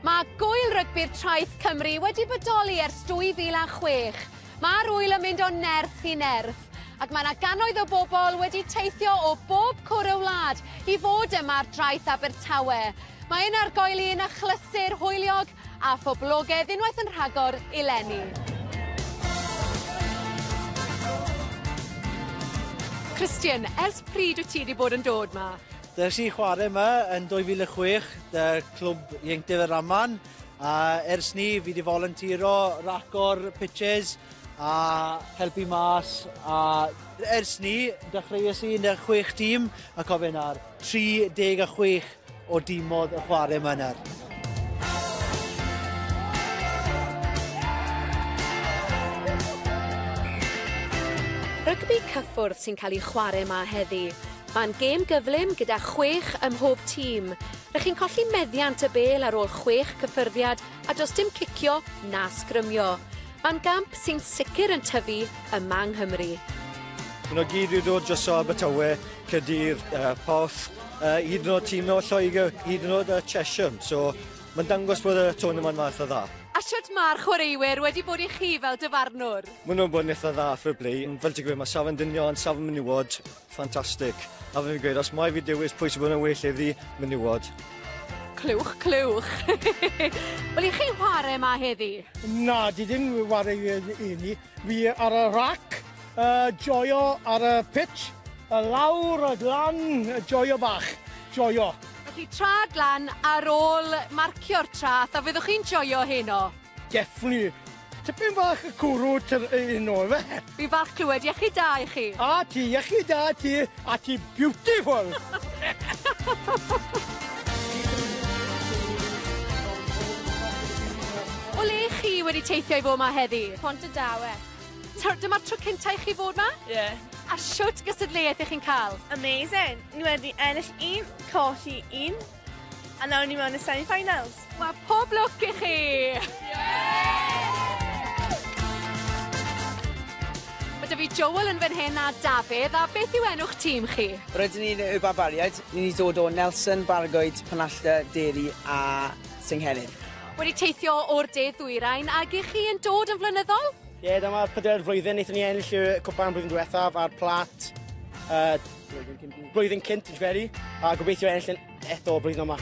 Mae gŵyl rygbi'r Traeth Cymru wedi bodoli ers 2006. Mae'r ŵyl yn mynd o nerth i nerth, ac mae 'na gannoedd o bobl wedi teithio o bob cwr y wlad i fod yma ar draeth Abertawe. Mae un argoeli yn achlysur hwyliog A phoblogedd unwaith yn rhagor i leni. Christian, ers pryd wyt ti wedi bod yn dod ma? Ddes i chwarae yma yn 2006, dy clwb ieuenctid y Raman, a ers ni fi wedi volunteero, racor, pitches, a helpu mas, a ers ni, dechreuais i yn y chwech tîm, a cofio nawr, 36 o dim modd y chwarae yma nawr. Rygbi cyffwrdd sy'n cael ei chwarae yma heddi. Mae'n gêm gyflym gyda chwech ym mhob tîm. Rydych chi'n colli meddiant y bel ar ôl chwech cyffyrddiad a does dim cicio na sgrymio. Mae'n gamp sy'n sicr yn tyfu yma yng Nghymru. Mae'n o gyd wedi dod dros Abertawe Caerdydd, yy Porth, yy hyd yn o'd tîm o Lloegr, hyd yn o'd yy Chesham, so ma'n dangos bod y tournament 'ma itha dda. A shwt ma'r chwaraewyr wedi bod i chi fel dyfarnwr? Ma' nhw'n bod yn itha dda, fair play. Fel ti'n gweud, ma' safon dynion, safon menywod, ffantastig. A fel fi'n gweud, os mai fi dewis pwy sy'n bod yn well heddi, menywod. Clywch, clywch. Wel, 'ych chi'n chware 'ma heddi? Na, dwi ddim yn ware i fy hun i. Fi ar y rac, yy joio ar y pitch, a lawr a lan, joio bach, joio. Felly trad lan ar ôl marcio'r trath, a fyddwch chi'n joio heno? Definitely. Tipyn bach y cwrw heno, ife? Fi'n falch clywed, iechyd da i chi. A ti, iechyd da ti. A ti beautiful! O le chi wedi teithio i fod ma heddi? Pont y Dawe. Tr- Dyma'r tro cynta i chi fod ma? Ie. Yeah. A shwt gystadleuaeth ych chi'n cael? Amazing! Ni wedi ennill un, colli un. A nawr ni mewn y semi finals. Wel pob lwc i chi! Mae 'da fi Joel yn fan hyn a Dafydd, a beth yw enw'ch tîm chi? Rydyn ni'n y Barbariaid, ni wedi dod o Nelson, Bargoed, Penallta, Derry a Senghenydd. Wedi teithio o'r de ddwyrain, ag i chi yn dod yn flynyddol? Ie, dyma pedair flwyddyn, wnaethon ni ennill y cwpan blwyddyn diwethaf a'r plat yy Blwyddyn cynt. Blwyddyn cynt, dwi'n feri. A gobeithio enll yn eto o blwyddyn yma.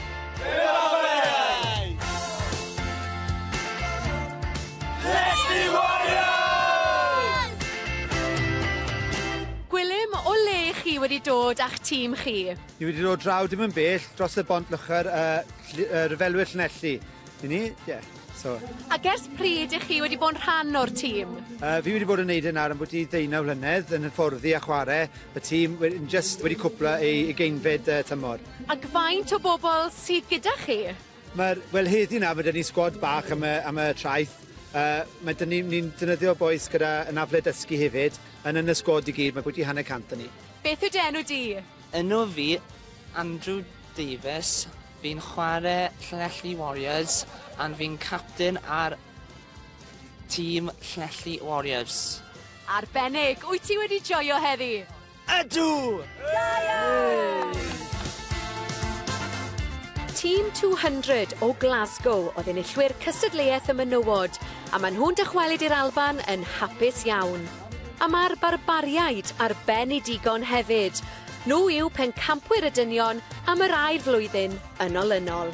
Gwilym, o le chi wedi dod a'ch tîm chi? Ni wedi dod draw dim yn bell dros y bont lychar uh, uh, ryfelwyr Llanelli. I ni, ie. Yeah. So... Ac ers pryd ych chi wedi bod yn rhan o'r tîm? Uh, fi wedi bod yn neud yn ar ambwyty ddeunaw flynedd yn hyfforddi a chwarae y tîm yn just wedi cwpla ei geinfed uh, tymor. Ac faint o bobl sydd gyda chi? Mae'r, wel heddi na, mae dyn ni sgwad bach am y, am y traeth. Uh, mae dyn ni'n ni dynyddio boes gyda yn afle dysgu hefyd, yn yn y sgwad i gyd, mae bwyty hanner cant yn ni. Beth yw enw di? Enw fi, Andrew Davies, Fi'n chware Llanelli Warriors and fi'n capten ar tîm Llanelli Warriors. Arbennig! Wyt ti wedi joio heddi? Ydw! Da iawn! Tîm 200 o Glasgow oedd enillwyr cystadleuaeth y menywod, a maen nhw'n dychwelyd i'r Alban yn hapus iawn. A mae'r Barbariaid ar ben i digon hefyd. Nhw yw pencampwyr y dynion am yr ail flwyddyn yn olynol.